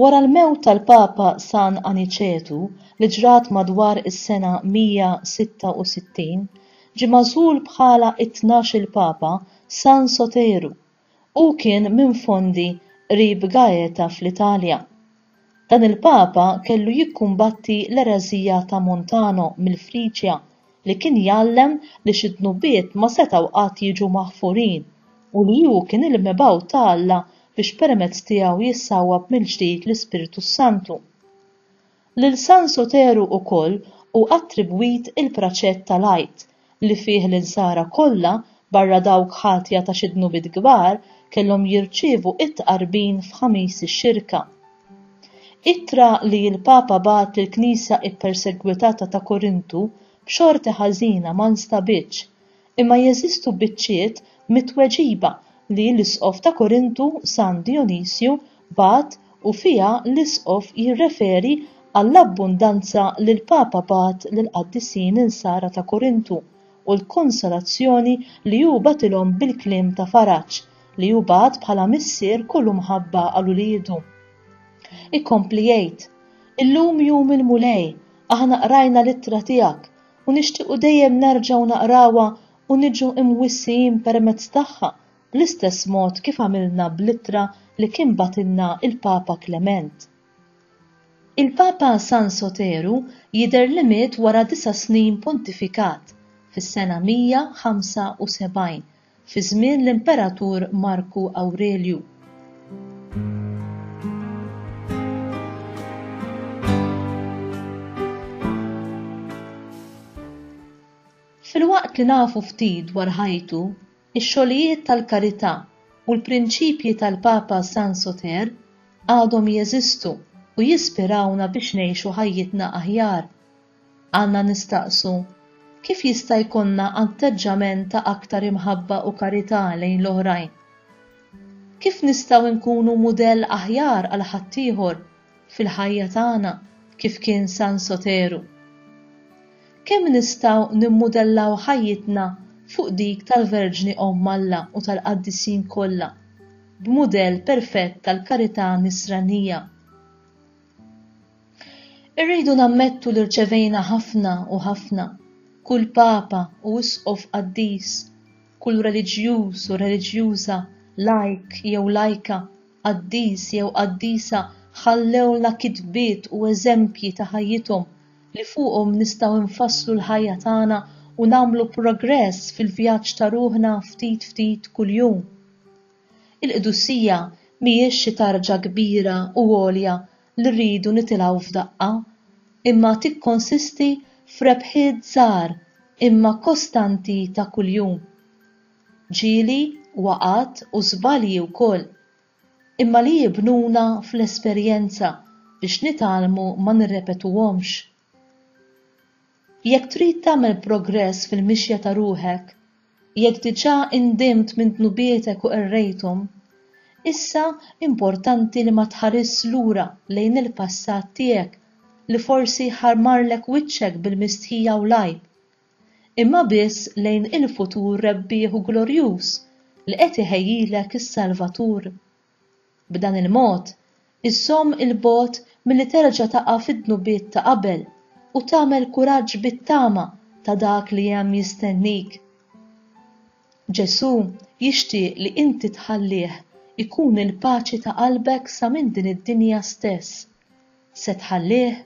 Wara l-mewt tal-Papa San Aniċetu li ġrat madwar is-sena 166, ġie magħżul bħala t-tnax-il Papa San Soteru. Hu kien minn Fondi qrib Gaeta fl-Italja. Dan il-Papa kellu jikkumbatti l-ereżija ta' Montano mill-Friġja li kien jgħallem li xi dnubiet ma setgħu qatt jiġu maħfurin u li hu kien il-mibgħut ta' Alla biex permezz tiegħu jissawwab mill-ġdid l-Ispirtu s-Santu. Lil San Soteru wkoll hu attribwit il-praċett tal-Għid, li fih l-insara kollha, barra dawk ħatja ta' xi dnubiet kbar, kellhom jirċievu t-tqarbin f'Ħamis ix-Xirka. Ittra li l-Papa bagħat lill-Knisja ppersegwitata ta' Korintu b'xorti ħażina ma nstabitx, imma jeżistu biċċiet mit-tweġiba li l-Isqof ta' Korintu San Dijonisju bagħat u fiha l-Isqof jirreferi għall-abbundanza li l-Papa bagħat lill-qaddisin Insara ta' Korintu u l-konsolazzjoni li hu bagħatilhom bil-kliem ta' faraġ li hu bagħat bħala missier kullu mħabba għal uliedu. Ikompli jgħid, Illum jum il-Mulej, aħna qrajna l-ittra tiegħek u nixtiequ dejjem nerġgħu naqrawha u niġu imwissijin permezz tagħha bl-istess mod kif għamilna bl-ittra li kien bagħtilna il-Papa Klement. Il-Papa San Soteru jidher li miet wara disa' snin pontifikat fis-sena 175 fi żmien l-Imperatur Marku Awrelju. Filwaqt li nafu ftit dwar ħajtu, ix-xogħlijiet tal-karità u l-prinċipji tal-Papa San Soter għadhom jeżistu u jispirawna biex ngħixu ħajjitna aħjar. Għandna nistaqsu, Kif jista' jkollna atteġġament ta' aktar imħabba u karità lejn l-oħrajn? Kif nistgħu nkunu mudell aħjar għal ħaddieħor fil-ħajja tagħna kif kien San Soteru? Kemm nistgħu nimmudellaw ħajjitna fuq dik tal-Verġni Omm Alla u tal-qaddisin kollha b'mudell perfett tal-karità Nisranija? Irridu nammettu li rċevejna ħafna u ħafna, kull Papa u Isqof qaddis, kull reliġjuż u reliġjuża, lajk jew lajka, qaddis jew qaddisa ħallewlna kitbiet u eżempji ta' ħajjithom li fuqhom nistgħu nfasslu l-ħajja tagħna u nagħmlu progress fil-vjaġġ ta' ruħna ftit ftit kuljum. Il-qdusija mhijiex xi tarġa kbira u għolja li rridu nitilgħu f'daqqa, imma tikkonsisti f'rebħiet żgħar imma kostanti ta' kuljum. Ġieli, waqgħat u żbalji wkoll, imma li jibnuna fl-esperjenza biex nitgħallmu ma nirrepetuhomx. Jekk trid tagħmel progress fil-mixja ta' ruħek, jekk diġà indimt minn dnubietek u qerrejthom, issa importanti li ma tħarisx lura lejn il-passat tiegħek li forsi jħarmarlek wiċċek bil-mistħija u l-għajb, imma biss lejn il-futur rebbieħ u glorjuż li qed iħejjilek is-Salvatur. B'dan il-mod, iżżomm 'il bogħod milli terġa' taqa' fid-dnubiet ta' qabel u tagħmel kuraġġ bit-tama ta' dak li hemm jistennik. Ġesù jixtieq li inti tħallih ikun il-paċi ta' qalbek sa minn din id-dinja stess. Se tħallih?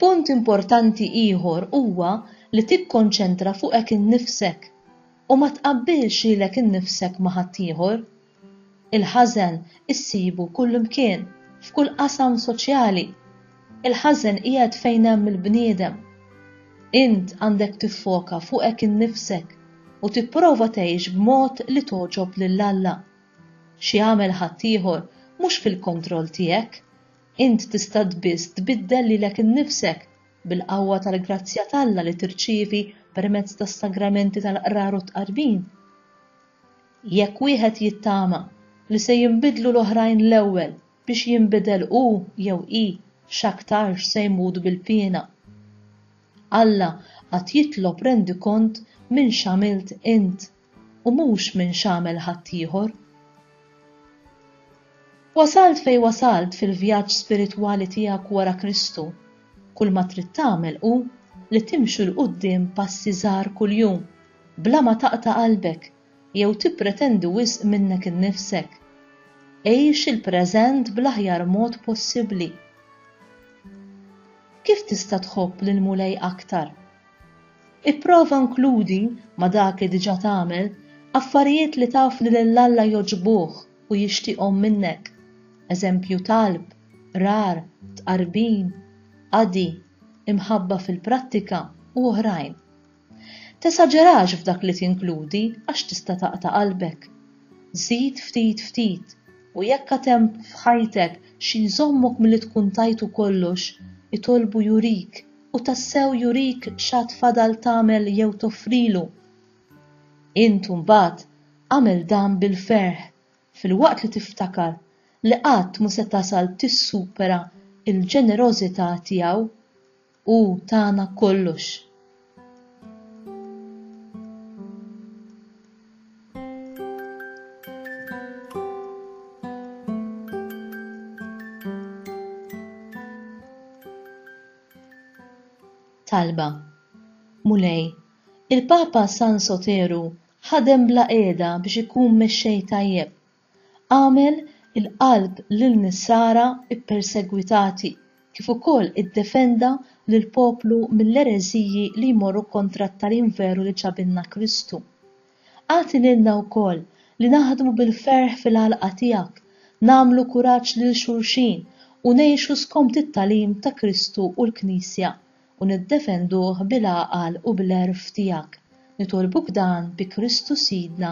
Punt importanti ieħor huwa li tikkonċentra fuqek innifsek u ma tqabbilx lilek innifsek ma' ħaddieħor. Il-ħażen issibu kullimkien, f'kull qasam soċjali. Il-ħażen qiegħed fejn hemm il-bniedem. Int għandek tiffoka fuqek innifsek u tipprova tgħix b'mod li togħġob lil Alla. X'jagħmel ħaddieħor mhux fil-kontroll tiegħek. Int tista' biss tbiddel lilek innifsek bil-qawwa tal-grazzja t'Alla li tirċievi permezz tas-sagramenti tal-Qrar u t-Tqarbin. Jekk wieħed jittama li se jinbidlu l-oħrajn l-ewwel biex jinbidel hu jew hi x'aktarx se jmut bil-piena. Alla għad jitlob rendikont minn x'għamilt int. u mhux minn x'għamel ħaddieħor. Wasalt fejn wasalt fil-vjaġġ spiritwali tiegħek wara Kristu, kulma trid tagħmel hu li timxu 'l quddiem passi żgħar kuljum, bla ma taqta' qalbek jew tippretendi wisq minnek innifsek. Għix il-preżent bl-aħjar mod possibbli. Kif tista' tħobb lill-Mulej aktar? Ipprova nkludi, ma' dak li diġà tagħmel, affarijiet li taf li lil Alla jogħġbuh u jixtieqhom minnek, eżempju talb, qrar, tqarbin, qadi, imħabba fil-prattika u oħrajn. Tesaġerax f'dak li tinkludi għax tista' taqta' qalbek. Żid ftit ftit, u jekk għad hemm f'ħajtek xi jżommok milli tkun tajtu kollox, itolbu jurik u tassew jurik x'għad fadal tagħmel jew toffrilu. Int imbagħad agħmel dan bil-ferħ filwaqt li tiftakar li qatt mhu se tasal tissupera l-ġenerożità tiegħu, Hu tana kollox. Talba Mulej, il-Papa San Soteru ħadem bla qiegħda biex ikun mexxej tajjeb Agħmel il-qalb lin-Nisara ppersegwitati, kif ukoll iddefenda lill-poplu mill-ereżiji li jmorru kontra t-tagħlim veru li ġabilna Kristu. Agħti lilna wkoll li naħdmu bil-ferħ fil-għalqa tiegħek, nagħmlu kuraġġ lil xulxin u ngħixu skont it-tagħlim ta' Kristu u l-Knisja u niddefenduh bil-għaqal u bl-għerf tiegħek. Nitolbuk dan bi Kristu Sidna.